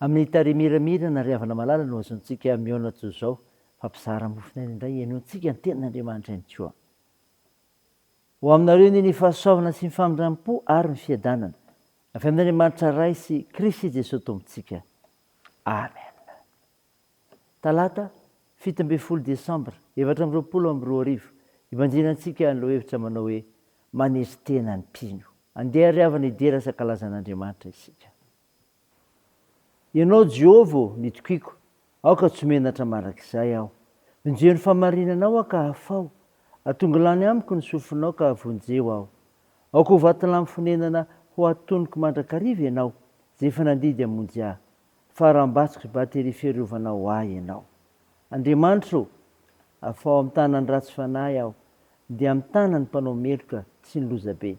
Amin'ny tarehy miramirana ry havana malala no azontsika mihaona toy izao fa mpizara mofon'aina indray henointsika ny tenin'Andriamanitra ihany koa. Ho aminareo anie ny fahasoavana sy ny famindrampo ary ny fiadanana avy amin'Andriamanitra Ray sy Krisy Jesoa Tompontsika. Amen. Talata fito ambin'ny folo desambra efatra amby roapolo amby roa arivo ibanjina antsika ny lohahevitra manao hoe Manery tena ny mpino. Andeha ry havana hidera sakalazan'Andriamanitra isika. Ianao Jehovah ô, nitokiako, aoka tsy ho menatra mandrakizay aho. Vonjeo ny fahamarinanao aho ka hafaho, atongo lany amiko ny sofinao ka vonjeo aho. Aoka ho vatolampy fonenana ho atonoko mandrakariva Ianao, Izay efa nandidy hamonjy ahy, faharambatsiko sy bateria fiarovana ho ahy Ianao. Andriamanitra ô, afaho amin'ny tanan'ny ratsy fanahy aho, dia amin'ny tanan'ny mpanao meloka sy ny lozabe.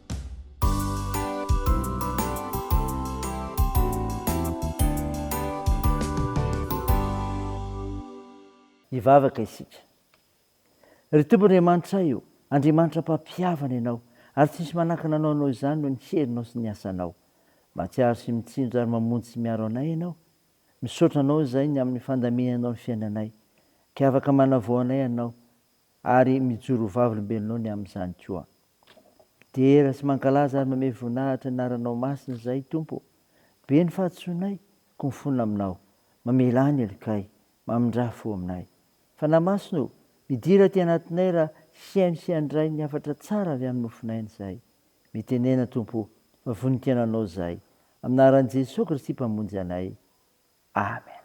Hivavaka isika. Ry Tompo Andriamanitray ô, Andriamanitra mpampihavana Ianao, ary tsy misy manakana anao noho izany noho ny herinao sy ny asanao. Mahatsiaro sy mitsindry ary mamonjy sy miaro anay Ianao. Misaotra Anao izay ny amin'ny fandaminanao ny fiainanay. Kay afaka manavao anay Ianao. ary mijoro ho vavolombelonao ny amin'izany koa. Midera sy mankalaza ary mamehy voninahitra ny anaranao masina izahay, Tompo ô. Be ny fahadisoanay, koa mifona aminao. Mamelà ny helokay, mamindrà fo aminay. Fanahy Masina ô, midira aty anatinay raha hihaino sy handray ny hafatra tsara avy amin'ny nofin'aina izahay. Mitenena, Tompo ô, fa voninkainonao izahay. Amin'ny anaran'i Jesoa Kristy Mpamonjy anay. Amen.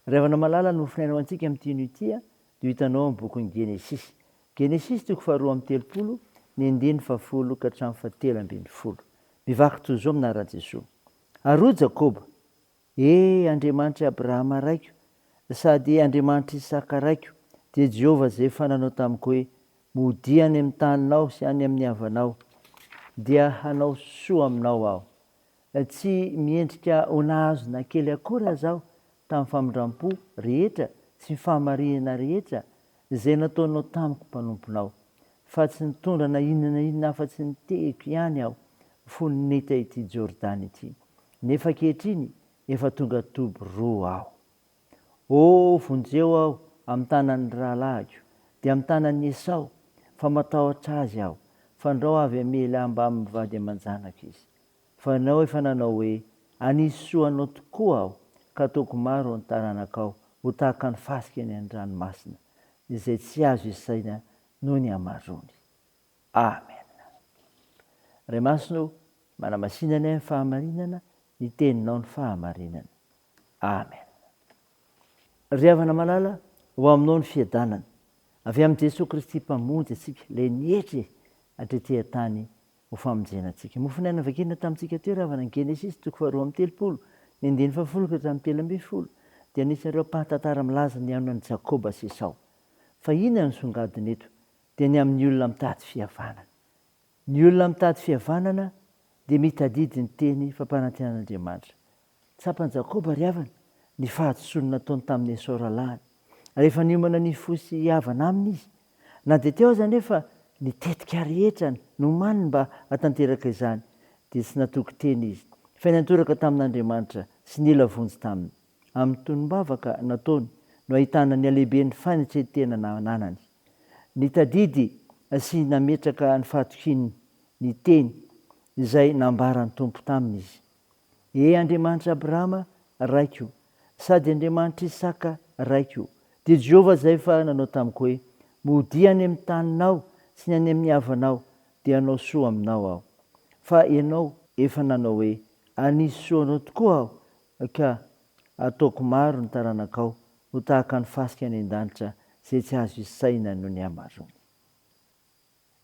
Ry havana malala nofonay anao antsika amin'ity hino ity dia ho hitanao amin'ny bokin'ny Genesisy. Genesisy toko faharoa amby telopolo ny andininy fahafolo ka hatramin'ny fahatelo ambin'ny folo. Mivaky toy izao minaran'i Jesoa. Ary hoy Jakoba, E Andriamanitr'i Abrahama raiko sady Andriamanitr'i Isaka raiko, dia Jehovah izay efa nanao tamiko hoe, Modia any amin'ny taninao sy any amin'ny havanao, dia hanao soa aminao aho. Tsy miendrika ho nahazo na kely akory aza aho tamin'ny famindram-po rehetra sy ny fahamarihana rehetra izay nataonao tamiko mpanomponao, fa tsy nitondra na inona na inona afa-tsy ny tehiko ihany aho fony nita ity Jordany ity, nefa ankehitriny efa tonga toby roa aho. Oh, vonjeo aho amin'ny tanan'ny rahalahiko, dia amin'ny tanan'i Esao, fa matahotra azy aho, fandrao avy hamely ahy mbamin'ny vady aman-janako izy. Fa ianao efa nanao hoe, Hanisy soa anao tokoa Aho, ka hataoko maro ny taranakao, ho tahaka ny fasika eny an-dranomasina, izay tsy azo isaina noho ny hamaroany. Amena. Ray Masina ô, manamasina ny ahy ny fahamarinana, ny Teninao ny fahamarinana. Amena. Ry havana malala, ho Aminao ny fiadanana, avy amin'i Jesoa Kristy Mpamonjy antsika, ilay nietry hatretỳ an-tany ho famonjena antsika. Mofonaina vakina tamintsika teo ravana ny Genesisy toko faharoa amby telopolo, ny andininy fahafolo ka hatramin'ny telo ambin'ny folo, dia anisan'ireo ampahan-tantara milaza ny anonan'i Jakoba sy Esao. Fa inona no songadina eto? Dia ny amin'ny olona mitady fihavanana. Ny olona mitady fihavanana dia mitadidy ny teny fampanantenan'Andriamanitra. Tsapan'i Jakoba ry havana ny fahadisoany nataony tamin'i Esao rahalahiny. Rehefa niomana ny hifoha sy hihavana aminy izy, na dia teo aza anefa ny tetika rehetra nomaniny mba hahatanteraka izany, dia tsy natoky teny izy, fa niantoraka tamin'Andriamanitra sy nila vonjy taminy. Amin'ny tonom-bavaka nataony no ahitana ny halehiben'ny fanetren-tena nananany. Nitadidy sy nametraka ny fahatokiany ny teny izay nambaran'ny Tompo taminy izy. Ee Andriamanitr' Abrahama Raiko, sady Andriamanitr' Isaka Raiko, dia Jehovah izay efa nanao tamiko hoe, Modia any amin' ny taninao sy ny any amin' ny havanao, dia hanao soa aminao Aho. Fa ianao efa nanao hoe, Hanisy soa anao tokoa Aho, ka hataoko maro ny taranakao, ho tahaka ny fasika any an-danitra, izay tsy azo isaina noho ny hamarony.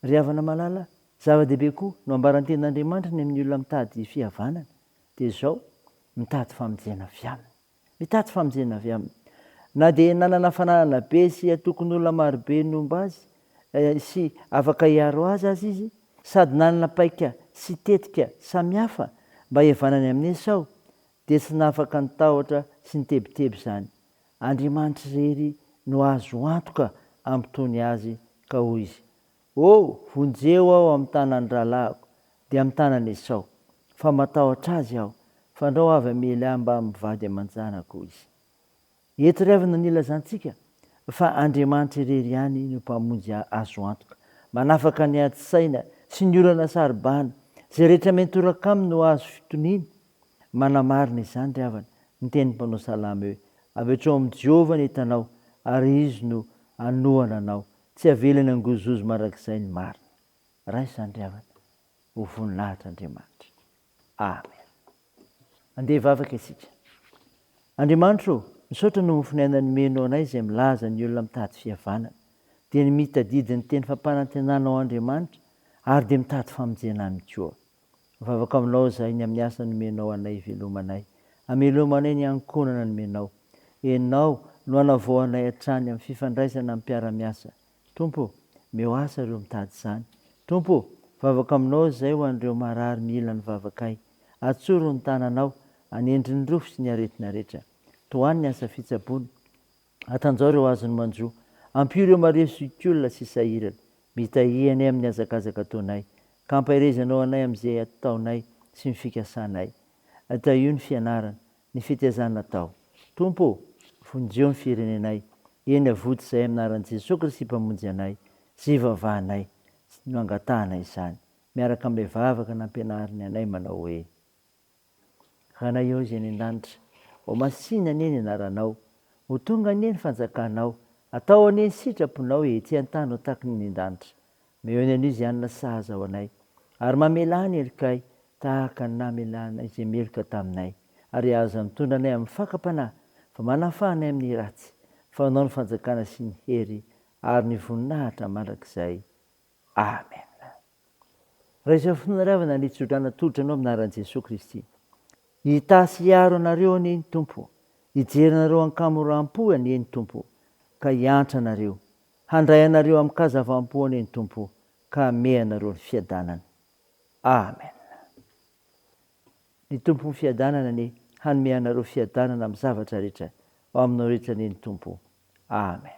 Ry havana malala, zava-dehibe koa no ambaran-ten'Andriamanitra ny amin'ny olona mitady fihavanana, dia izao, mitady famonjena avy Aminy. Mitady famonjena avy Aminy. Na dia nanana fananana be sy antokon'olona maro be nomba azy sy afaka hiaro azy aza izy, sady nanana paika sy tetika samihafa mba hihavanany amin'i Esao, Dia tsy nafaka ny tahotra sy ny tebiteby izany. Andriamanitra irery no azo antoka hampitony azy ka hoy izy, Oh, vonjeo aho amin'ny tanan'ny rahalahiko, dia amin'ny tanan'i Esao, fa matahotra azy aho, fandrao avy hamely ahy mbamin'ny vady aman-janako, hoy izy. Iatreavana ny ilazantsika fa Andriamanitra irery ihany no Mpamonjy azo antoka, manafaka ny adi-tsaina sy ny olana saro-bahana, izay rehetra miantoraka Aminy no azo fitoniana. Manamarina izany ry havana ny tenin'ny mpanao salamo hoe, Avetrao amin'i Jehovah ny entanao, ary Izy no hanohana anao. Tsy havelany hangozohozo mandrakizay ny marina. Raha izany ry havana, ho voninahitr'Andriamanitra. Amen. Andeha hivavaka isika. Andriamanitra ô, misaotra noho ny finiaina nomenao anay izay milaza ny olona mitady fihavanana, dia ny mitadidy ny teny fampanantenanao Andriamanitra ary dia mitady famonjena aminy koa. Mivavaka aminao izahay ny amin'ny asa nomenao anay hivelomanay, hamelomanay ny ankohonana nomenao. Ianao no hanavao anay hatrany amin'ny fifandraisana amin'ny mpiara-miasa Tompo o! Meo asa ireo mitady izany. Tompo o! Vavako Aminao izay ho an'ireo marary mila ny vavakay. Atsoro ny tananao, anendry ny rofy sy ny aretina rehetra. Tohano ny asa fitsaboana. Atanjao ireo azony manjo. Ampio ireo maria zokiolona sy sahirana. Mitahia anay amin'ny hazakazaka ataonay, ka ampaherezanao anay amin'izay ataonay sy ny fikasanay. Tahio ny fianarana. Ny fitezana atao. Tompo ô, vonjeo ny firenenay, eny avoty izay anaran'i Jesoa Kristy Mpamonjy anay sy ivavahanay no angatahana izany, miaraka amin'ilay vavaka nampianariny anay manao hoe, Ranay ô izay any an-danitra, ho masìna anie ny anaranao, ho tonga anie ny fanjakanao, atao anie ny sitraponao ety an-tany ho takin'ny any an-danitra. Mihaino an'i Louisiana sahaza ho anay, ary mamelà ny helokay tahaka ny namelàna izay meloka taminay, ary aza mitondra anay amin'ny fakam-panahy, fa manafaha anay amin'ny ratsy, fa Anao ny fanjakana sy ny hery ary ny voninahitra mandrakizay. Amena. Raha izao finiravana ny tso-drano atolotra anao amin'ny anaran'i Jesoa Kristy. Hitahy sy hiaro anareo anie ny Tompo, hijery anareo an-kamoram-po anie ny Tompo, ka hiantra anareo, Handray anareo amin-kazavam-po anie ny Tompo ka hamehy anareo ny fiadanany. Amen. Ny Tompon'ny fiadanana anie hanome anareo fiadanana amin'ny zavatra rehetra ao aminao rehetra anie ny Tompo. Amen.